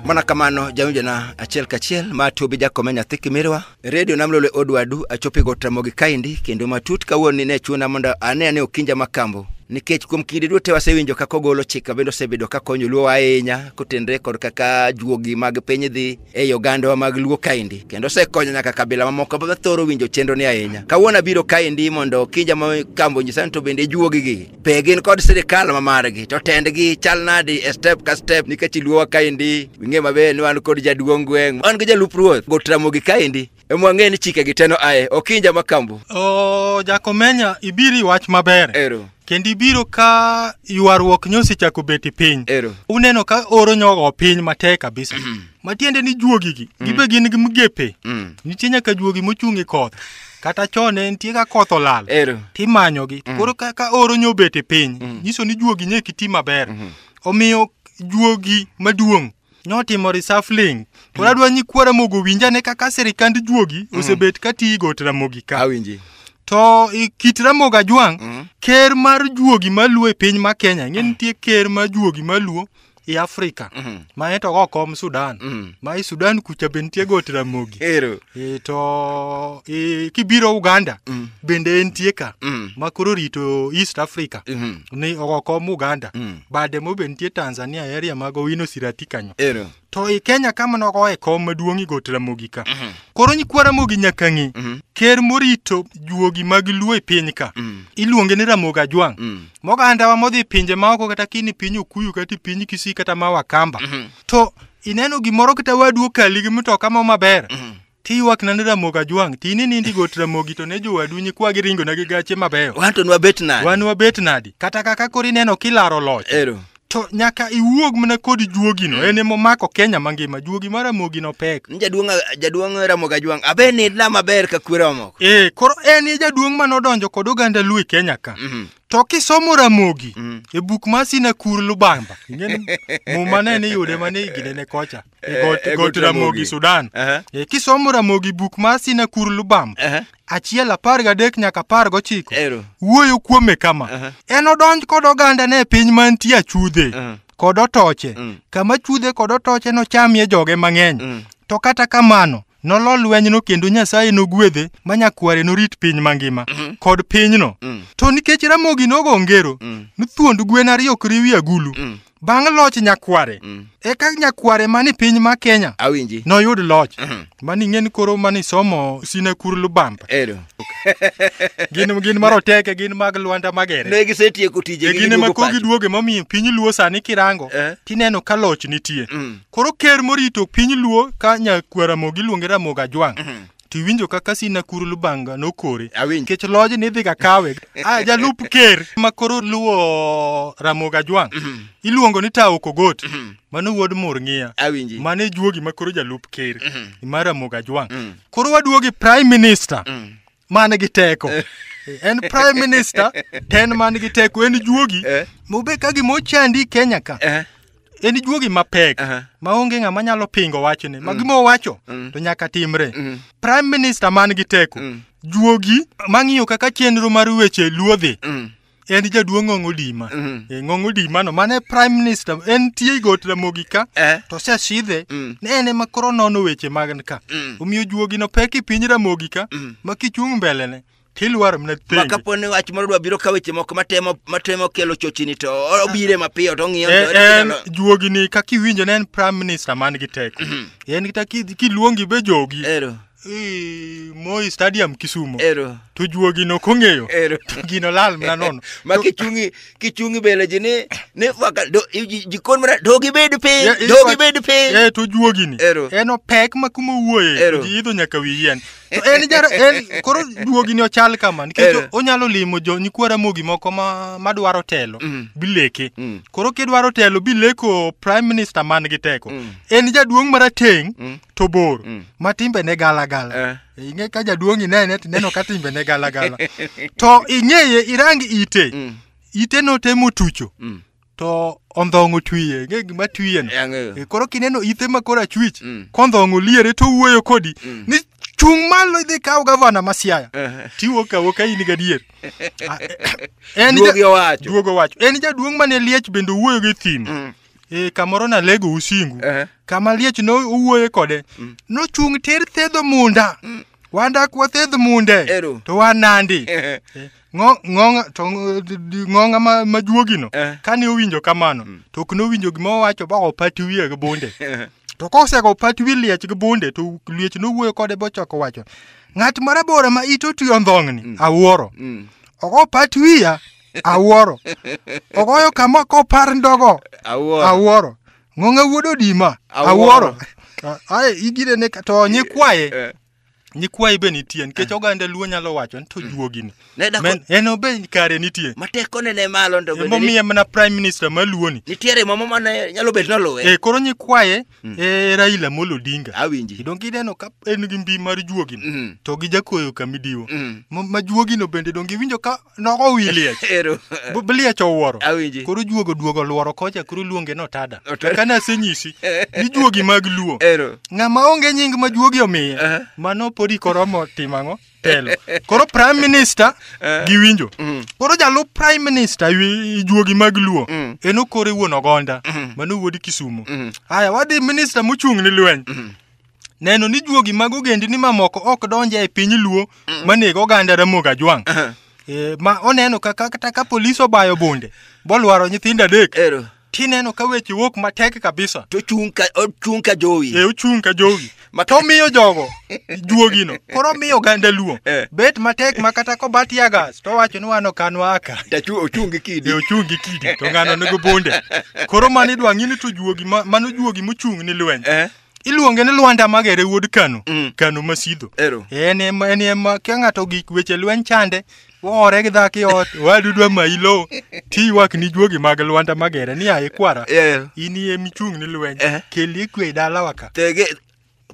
mana kamano jawinjona achiel kachiel ma tubi jakome nyathi kimirwa redio namlole odwadu achopi gotramogi kaindi kendo matut kawuoni ne chuna mondo ane ane okinja makambo nikech kuom kinde duto wasewinjo kaka ogolo chik mabende osebedo ka konyo luo ahinya kotenre kod kaka juogi mag piny dhi ei ogandawa mag Luo kaendi kendo osekonyo nyaka kabila mamoko ma thoro winjo chenro ni ahinya. Kawuono abiro kaendi mondo kija ma kambo nyisani to bende ijuogi gi pe gin kod sirikal ma margi to tendgi chal nadi e step ka step nikech Luowa kaendi wing'e maber ni wan kod jaduong' gweng' wan gi jalup ruoth Gotramogi kaendi emwang'e ni chike gi teno aye okinja makambu o jakomenya ibiro iwach maber ero kendo ibiro ka ywaruok nyosechako beti piny ero uneno ka oro nyogo piny matek kabisa matiende ni juogigi gibe gin gi migepe Mm. nitie nyaka juogi mochung' e koth kata chon ne nitie ka koth olal ero timanyogi to koro ka, ka oro nyobete piny nyiso ni juogi nye kiti maber omiyo juogi maduong' notimo reshuffling to hmm. adwa ni kwa Ramogi owinj ane kaka sirikand juogi hmm. osebet ka tiyo got Ramogi ka awinji to kit Ramogi Ajwang' hmm. ker mar juogi maluo e piny ma Kenya ng'e nitie ker mar juogi maluo e Afrika mm -hmm. ma ento go kom Sudan mm -hmm. ma i Sudan kucha be nitie got Ramogi ero e to e, kibiro Uganda mm -hmm. bende entie ka mm -hmm. ma koro rito East Africa mm -hmm. ni ogo kom Uganda mm -hmm. bade mobe nitie Tanzania area mag Owino Sirati kanyo. Ero. To i Kenya kama nogo e kom maduong' i Got Ramogi ka. Mhm. Koro nyikwa Ramogi nyaka ng'e. Mhm. Ker morito juogi mag Luo e piny ka. Mhm. Iluonge ni Ramogi Ajwang'. Mogandawa modhi pinje ma oko kata kini piny Okuyu kata piny Kisii kata ma Wakamba. To ineno gimoro kata wadu okali gi mtoka mo maber. Tiywak na ne Ramogi Ajwang', ti ni nindi got Ramogi to ne jowadu nyikwa giringo na gi gache mabeyo. Wan to nwabet nade? Wan wabet nadi? Kata kaka koro ineno kilaro loch. Ero. To nyaka iwuog mana kod juogino, en ema omako Kenya mangima. Juogi mar Ramogi no pek. Ni Jaduong' jaduong' Ramogi Ajwang'. Abe nidna maber ka kwere omoko. Eh, koro en e jaduong' mane odonjo kod oganda Luo e Kenya ka. Mhm. To kisomo Ramogi Mhm. e buk mar Sinakur Lubamba, ing'eni muma ne niyude mane higine ne kocha. E Eh, got, e got got Ramogi, Ramogi. Sudan. Aha. E, kisomo Ramogi buk mar Sinakur Lubam, Aha. achiel apar gadek nyaka apar gochiko, Ero. wuoyo kuome kama. Aha. En odonj kod ogandane e piny mantie achudhe Aha. kod otoche, Mm. kama chudhe kod otoche nochamie joge mang'eny. Mm. To kata kamano, nolo lwenyno kendo Nyasaye nogwedhe ma nyakware norit piny mangima kod pinyno. Mm. To nikech Ramogi nogo ngero, Mm. nothuond gwen ariyo ok riwi agulu. Mm. bang' loch nyakware mm. eka nyakware mani piny ma Kenya awinji noyud loch uh mhm. -huh. mani ng'en koro mani somo sine kur lubamba ero gin gin maroteke gin mag Luanda Magere ne gisetieko tije e gin ma kogi duoge momiyo piny Luo sani kirango eh? tineno ka loch nitie mm. koro ker morito piny Luo ka nyakwara mogi luonge Ramogi Ajwang mm -hmm. to iwinjo kaka Sina Kuru Lubanga nokore Awinjo. nikech loj ni idhiga kawe ah, jalup ker ma koro luwo Ramogi Ajwang' iluongo ni Taok Ogot mano wuod Murng'ia Awinji. mane juogi ma koro jalup ker ma Ramogi Ajwang' Mm. koro waduogi prime minister Mm. man gi teko en prime minister ten man gi teko en juogi Eh. mobe ka gima ochandi Kenya ka Eh. en juogi mapek Aha. maonge ng'ama nyalo pingo wachne ma gima owacho Mm. to nyaka timre Mm. prime minister man gi teko Mm. juogi mang'iyo kaka chenro mar weche luodhi Mm. en jaduong' ng'ong odima Mm. e ng'ong odimano mane prime minister en tie got ramogi ka Eh. to osesidhe Mm. ne en ema koro nono weche mag ka Mm. omiyo juogino pek i piny ramogi ka Mm. ma kichung' mbelene Tilwar mna penjo. Ma kapo ni wach moro dwa biro ka weche moko matemo matemo kelo chochini to obire ah. mapiyo to ng'iyo eh, to en juogi ni kaka iwinjo ne en prime minister man gi teko. Mhm. En kita kiluongi be jogi. Ero. Moi Stadium Kisumo. Ero. To juogi no kong'eyo. Ero. Gino lal mna nono. Ma kichungi kichung' i bele ji ni ni faka do- i- ji- jikon mana do gibed piny Ya- i- do fa- gibed piny Eh, to juogini Ero. en opek ma kuma owuoye Ero. to ji idho nyaka wi yien to en jaro en koro juogini ochal kama nikech Ero. onyalo limo jo nyikwa ramogi moko ma madwaro telo Mm. bileke Mm. koro kidwaro telo bileko prime minister man gi teko Mm. en jaduong' marateng' Mm. to bor Mm. ma timbe ne gala gala Eh. ing'e ka jaduong' inene tineno ka timbe ne galagala to ing'eye irang ite mm. ite notemo tucho mm. to ondhong'o twiye ng'e gima twiye no e, koro kineno ithe ma koro achwich mm. kondhong'o liere to wuoyo kodi mm. ni chung' malo idhi kaw gavana ma siaya tiwo kawo ka in gadier ah, eh, eh, duogo wacho en jaduong' mane liech bende owuoyo gi thim mm. e, kamoro nalego usingu Eh. kama liech no owuoye kode nochung' tir thedho munda wandak wathedh munde Ero. to wanandi Eh. Eh, ng'o- ng'onga to ng- d- d- ng'onga ma- majuogino Eh. kane owinjo kamano to ok nowinjo gima owacho ba opati wiye gi bunde to kosego opati wi liech gi bunde to liech nowuoyo kode bochako wacho ng'at marabora ma ite otwi ondhong'ni awuoro Mm. ok opati wiya awuoro ogoyo kama kopar ndogo awuoro awuoro ng'onge wuod odima Awuoro. awuoro A- ae igire ne ka- to nyikwaye Eh. nyikwaye be nitie nikech oganda luo nyalo wacho ni to juogini Ne dako- Men- en obe kare nitie mateko ne ne malo ndo bende emomiye mana prime minister maluoni nitiere mama mane nyalo bet noluwe e koro nyikwaye e raila molo odinga awinji idong ineno ka en gi mbi mar juogino Mm. to gi jakoyo kamidiwo Mm. ma ma juogino bende dong iwinjo ka Nogo wi liech. Ero. Bu- bu liech owuoro. Awinji. Koro juogo duogo luoro kocha koro luonge no tada. Otada. Kane asenyisi ni juogi mag luo. Ero. Ng'ama onge nying ma juogi omiye. Aha. Mano podi koromo timo ang'o? Telo. Koro prime minister Eh. giwinjo. Mm. Koro jalup prime minister wi- juogi mag luo. Mm. En okore wuon ogonda. Mhm. Mano wuod Kisumu. Mhm. Haya wadhi minister mochung' ni lweny. neno ni juogi mag ogendni mamoko ok donj e piny luo mm. manego oganda ramogi ajwang' uh-huh. eh, ma oneno kaka kata ka polis obayo bunde bolwaro nyithindo adek tineno ka weche wuok matek kabisa to chung ka ochung ka jowi e ochung ka jowi ma to miyo jogo juogino koro miyo ganda luo eh. bet matek ma kata ko bat ya gas to wacho ni wano kan waka ta chu ochung gi kidi e ochung gi kidi to ngano ne go bonde koro mani dwangi ni to juogi mano juogi muchung ni lweny eh. iluonge ni Lwanda Magere wuod Kano, Mm. Kano Masidho. Ero. En ema en ema kia ng'ato gik weche lweny chande, woore gi dhaki ot, wadu dwa mayi lowo, tiywak ni juogi mag Lwanda Magere ni aye kwara. Ero. In iye michung' ni lweny, Eh. kel ikwe e dalawa ka. Tege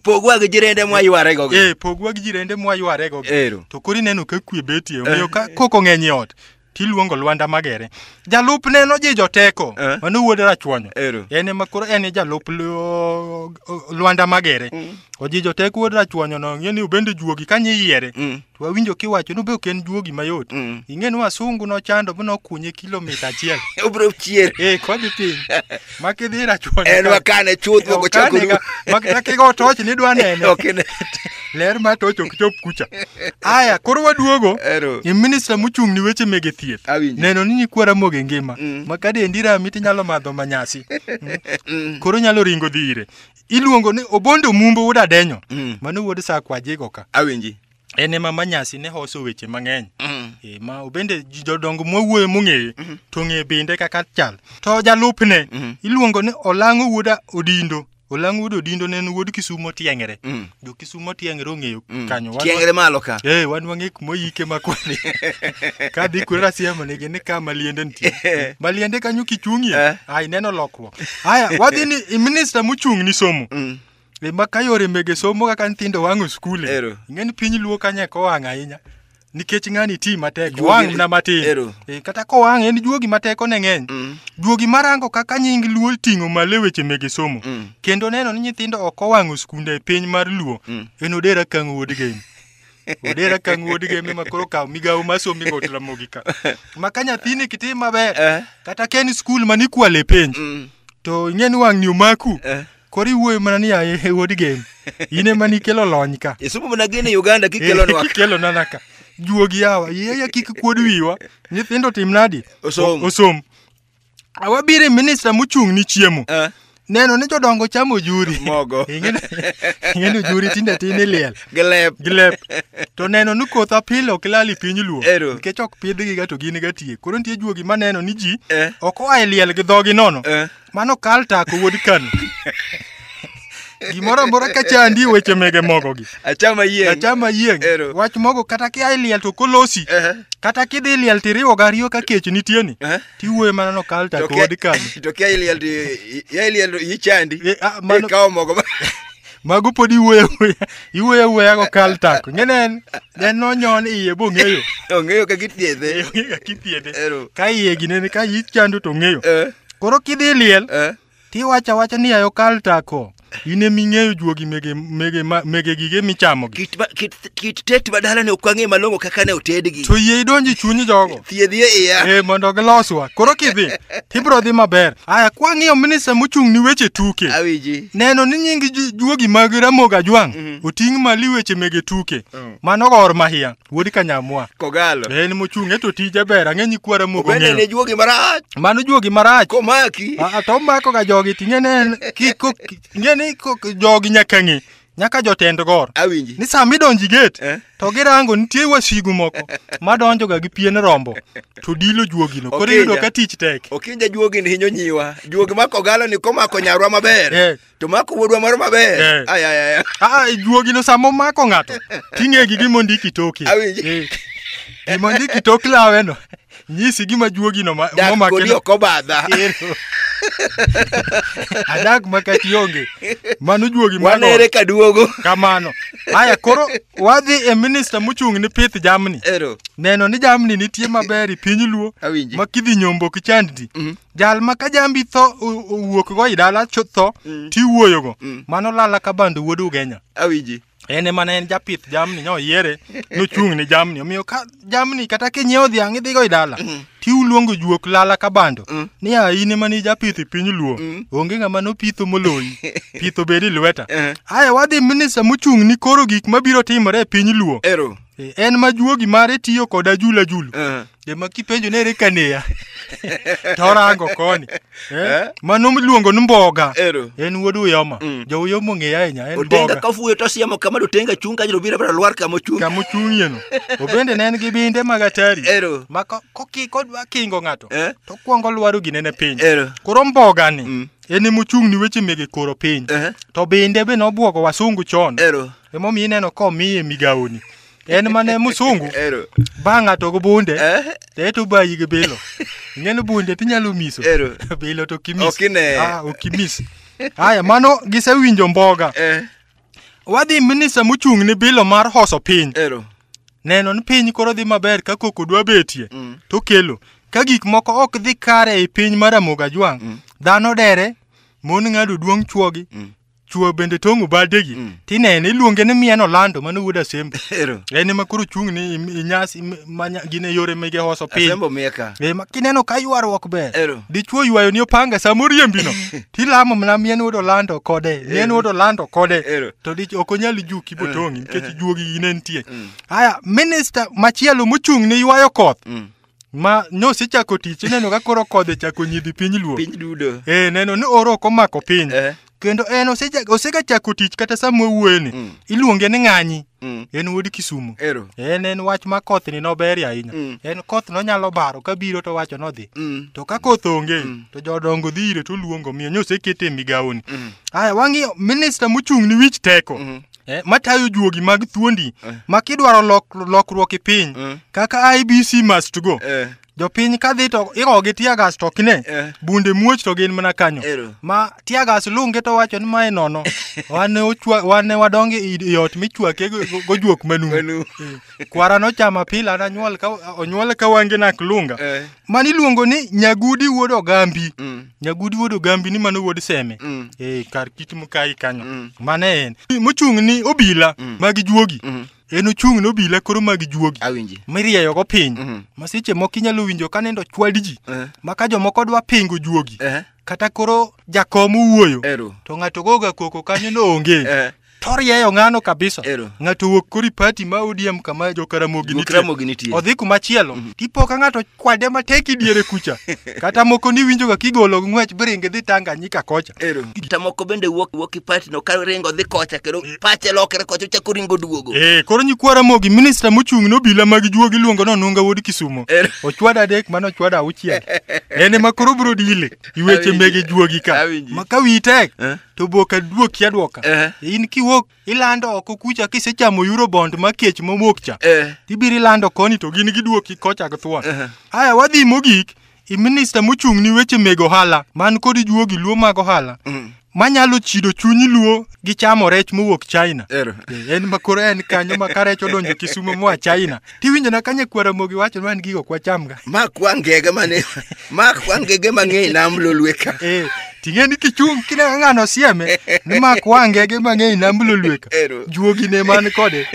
pogwa gi jirende mwa yware go. Eh, pogwa gi jirende mwa yware go. Ero. To koro ineno ka kwe betie, omiyo ka koko ng'eny e ot, tiluongo Lwanda Magere. Jalupne nojijo teko, Eh. mano wuod Rachwanyo. Ero. En ema koro en e jalup Lu- Lwanda Magere. Ojijo teko wuod Rachwanyo no, ing'e ni obende juogi kanye yiere. Mm. To wawinjo kiwacho ni be ok en juogi mayot. Mm. Ing'e ni wasungu nochando mi nokunye kilomita achiel. Obro chier. Eh, kodhi piny. ma kidhi ira chuo en wakane chuth moko chako Okane ga- mak- mak kigo toch ni dwa nene Ok ine. ler ma toch ok chop kucha aya koro waduogo Ero. e minista mochung' ni weche mege thieth Awinjo. neno ni nyikwa ramogi ngima Mm. ma ka dendi rami tinyalo madho manyasi Mm. koro nyalo ringo dhi ire iluongo ni obondo mumbo wuod adenyo Mm. mano wuod sakwajigo ka Awinji. en ema manyasi ne hoso weche mang'eny mm. e, ma obende jodongo mwawuoyo mong'eye mm -hmm. to ng'e binde kaka chal to jalupne mm -hmm. iluongo ni olang'o wuoda odindo olang'o wuoda odindo ne en wuod kisumo tieng'ere mm. jo kisumo tieng'ere ong'eyo mm. kanyo tieng'ere malo ka e, wan wang'e kuma oyike makwani ka dhi kure rasiemo nigi ni ka maliende nitie eh. maliende kanyo kichung'ie eh. ai neno lokruok haya wadhi ni minister mochung' ni somo mm. E ma ka yore mege somo kaka nyithindo wang'o skul. e, Ero. Ing'eni piny luo kanye ko wang' ahinya. Nikech ng'ani ti matek, Juogi- wang' na matin. Ero. E, kata ko wang' en juogi matek one ng'eny. Mm. Juogi marango kaka nying luo ting'o malo e weche mege somo. Mm. Kendo neno ni nyithindo ok owang'o skunde e piny mar luo. Mm. En odera kang' wuod game. Odera kang' wuod game ma koro kawo migawo ma somi go tramogi ka. Ma ka nyathini kitim maber, Eh. kata ken skul manikwale penj, Mm. to ing'eni wang'ni omaku. Eh. koro iwuoyo mana ni yaye he wuod gen in ema nikelo lony ka isomo mana gen e uganda kikelonwa ka. kikelo nana ka juogi yawa yeya kik kuod wiwa nyithindo tim nadi Osom. O- osom awabire minista mochung' ni chiemo Ah, neno ni jodongo chamo juri Mogo. ing'eni ing'eni juri tinde tin iliel gilep gilep to neno ni koth apile ok lal i piny luo Ero. nikech ok pidhgiga to gin ga tie koro nitie juogi maneno ni ji Eh. ok oa e liel gi dhogi nono Eh. Mano kal tako wuod Kano. Gimoro amora ka chandi weche mege mogo gi. Achama yieng. Achama yieng. Ero. Wach mogo kata ki ai liel to kolosi. Ehe. Kata ki dhi liel tiriwo gariyo ka kech nitie ni. Ehe. Tiwuoye mana no kal tako To kia- wuod Kano. To kia iliel to- i- i- iliel to ichandi. Eh, ah, mano- Ikawo mogo. mago pod iwuoyo awuoya iwuoyo awuoya go kal tako ing'e ne en ne en nonyon iye bong'eyo ong'eyo kaka ithiedhe ong'eyo kaka ithiedhe Ero. ka iye ginene ka ich chando to ong'eyo Eh, koro kidhi liel eh. tiwacho awacha ni ayo kal tako in eming'eyo juogi mege mege ma- mege gige michamogi Kit ma- kit kit tet ma dalani ok wang'e malong'o kaka ne otedgi to yie idonji chuny jogo thiedhi e iya e mondo giloswa koro kidhi tibro dhi maber aya kwang'iyo minista mochung' ni weche tuke awiji neno ni nying ju- juogi mag ramogi ajwang' Mhm. oting' mali weche mege tuke Mm. mano gor mahia wuod kanyamwa kogalo en mochung' e to tije ber ang'e nyikwa ramogi obende ne ong'eyo juogi marach mano juogi marach komaki Ah, ah, to omakoga jogi ting'e ne en kiko ing'e ni ko- jogi nyaka ng'e nyaka jotend gor awinji ni sama idonji get eh? to girango nitie wasigu moko madonjoga gi pien rombo to dilo juogino koro iyudo ka tich tek okinja juogi ni hinyo nyiwa juogi mako galo ni komako nyarwa maber eh. to mako wuodwa moro maber eh. ayayaya ah, ah, juogino sama omako ng'ato ting'egi gimondiki toki gimondiki tok laweno nyisi gima juogino ma- Dak momake kodi no. ok obadha. Ero. adak makati onge mano juogi mar Wanere ot. ka duogo. kamano haya koro wadhi e minista mochung' ni pith jamni Ero. neno ni jamni nitie maber e piny luo Awinji. ma kidhi nyombo ki chandni Mhm. jal ma ka jambi tho o- owuok go i dala cho- tho tiwuoyogo mano lala ka bando wuod ugenya Awinji. en ema ne en japith jamni nyo yiere nochung' ne jamni omiyo ka jamni kata kinyiewo dhiang' idhigo i dala mm. tiuluongo juok lala ka bando mm. ni a in ema ni japith i piny luo mm. onge ng'ama nopitho moloyi pitho bedi lweta eh. aye wadhi minista mochung' ni koro gik mabiro timore e piny luo e, en ma juogi mare tiyo kod ajulajulu eh. Jema kipenjo nere kaneya. Torango koni. Eh? Eh? Mano miluongo ni mboga. Ero. En wuod Uyoma. Mm. Jo Uyoma ong'eya ahinya en Otenga mboga. ka fuyo to siemo kama do tenga chung ka jiro bira bira lwar kama chung. Kama ochung'ie no. Obende ne en gi binde mag atari. Ero. Ma ko- koki kodwa kingo ng'ato. Eh? To kwongo lwaro ginene piny. Ero. Koro mboga ni. Mm. En ema ochung' ni weche mege koro piny. Eh. To binde be nobwogo wasungu chon. Ero. Emomiyo ineno komiye migawoni. en mane musungu Ero. ba ng'ato gi bunde Eh? to eto bayi gi bilo ing'eni bunde tinyalo miso Ero. bilo to kimis Ok ine. ah, okimis haya mano gisewinjo mboga Eh. wadhi minista mochung' ni bilo mar hoso piny Ero. neno ni piny koro dhi maber ka koko dwa betie Mm. to kelo ka gik moko ok dhi kare e piny mar amoga jwang' dhano dere mon ng'ado duong' chuogi Mm. chuo bende tong' obadegi mm. tinene iluonge ni mian olando mano wuod asembo en ema koro chung' ni inyasi gin e yore mege hoso piny e, kineno ka ywaruok ber dichuo ywayo ni opanga sama oriembino tilamo mana mian wuod olando kode mian wuod olando kode to ok onyal juki botong'i nikech juogi ine nitie mm. haya minista machielo mochung' ni ywayo koth mm. ma nyosi chako tich ineno ka koro kodhi chako nyidhi piny luo piny dudo eh neno ni oro ok omako piny eh kendo en oseja- osegachako tich kata sama owuoyeni Mm. iluonge ni ng'anyi mm. en wuod kisumu ero en en wach ma koth ni noberie ahinya Mm. en koth nonyalo baro ka biro to wacho nodhi mm. to ka koth onge to jodongo dhi ire to luongo miyo nyosekete e migawoni Mm. aya wang'iyo minista mochung' ni wich teko Mhm. eh, matayo juogi mag thuondi eh. ma kidwaro lok, lokruok e piny eh. kaka ibc must go eh. jopiny ka dhi to igogi tiagas to ok ne eh. bunde muoch to gin mana kanyo Ero. ma tiagas lunge to wacho ni mae nono wane wane wadonge i ot michwake gojuok manu kwara nochama pila nanyuol ka onyuol ka wange nak lunga Eh. mani iluongo ni nyagudi wuod ogambi Mm. nyagudi wuod ogambi ni mano wuod seme Mm. eh kar kit mukai kanyo Mm. mane en mochung' ni obila Mm. mag juogi Mm. en ochung' ni obila koro mag juogi Awinji. mirieyogo piny Mhm. ma seche moko inyalo winjo ka nindo chwad ji Eh. ma ka jomoko dwa pingo juogi Eh. kata koro jakom wuoyo Ero. to ng'ato goga koko kanyo no onge Eh. Torieyo ng'ano kabisa. Ero. Ng'ato wuok kori pati ma ODM kama jo Karamogi Wuok nitie. Karamogi nitie. Odhi kuma chielo. Tipo ka ng'ato kwade matek idiere kucha. Kata moko ni winjo ga kigolo ng'wech bringe dhi Tanganyika kocha. Ero. Kata moko bende wuok wuok i party no ka ringo dhi kocha kendo pache lokre kocha ochako ringo duogo. Eh, koro nyikwa Ramogi minister mochung' nobila mag juogi iluongo ni Onunga wuod Kisumo. Ero. Ochwada adek mano ochwada auchiel. En ema koro bro dile. iweche mege juogi ka Awinji. ma ka wiyi tek Eh. to bok aduoki adwoka Eh. in kiwuok ilando oko kucha kisechamo eurobond ma kech mowuok cha Eh. ibiro ilando koni to gin giduoki kocha githuon Eh. aya wadhi mogik i minista mochung' ni weche meg ohala man kod juogi luo mag ohala Mm. manyalo chido chuny luo gi chamo rech mowuok China. Ero. Eh, en ma koro en kanyo ma ka rech odonjo Kisumo moa China. Tiwinjo na kanye kwara mogi wacho ni wan gigo kwa chamga. Ma kwa ngege mane. Ma kwa ngege mang'eny nam lolwe ka. Eh. Ting'e ni kichung' kine ng'ano sieme ni ma kwa ngege mang'eny nam lolwe ka. Ero. Juogi ne man kode.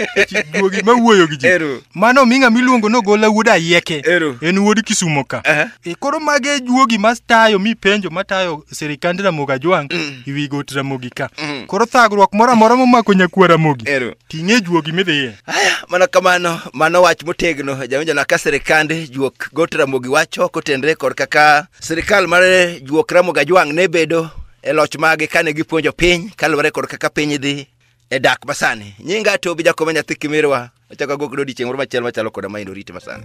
Juogi ma wuoyo gi ji. Ero. Mano ming'a miluongo no gola wuod ayieke. Ero. En wuod Kisumo ka. Aha. E, koro mage juogi ma tayo mi penjo ma tayo sirikand Ramogi Ajwang' Mm. iwi got Ramogi ka. Mm. Koro thagruok moro amora momako nyakuo Ramogi, Ero. ting'e juogi midhiye. Aya, mana kamano, mano wach motegno jawinjo na ka sirikand juok got Ramogi wacho kotenre kod kaka sirikal mar juok Ramogi Ajwang' ne bedo e loch mage kane gipuonjo piny kaluwore kod kaka piny dhi e dak masani nyinga atobi jakoma nyathi kimirwa achako agok dodichieng' moro machielo machalo koda ma endo rite masani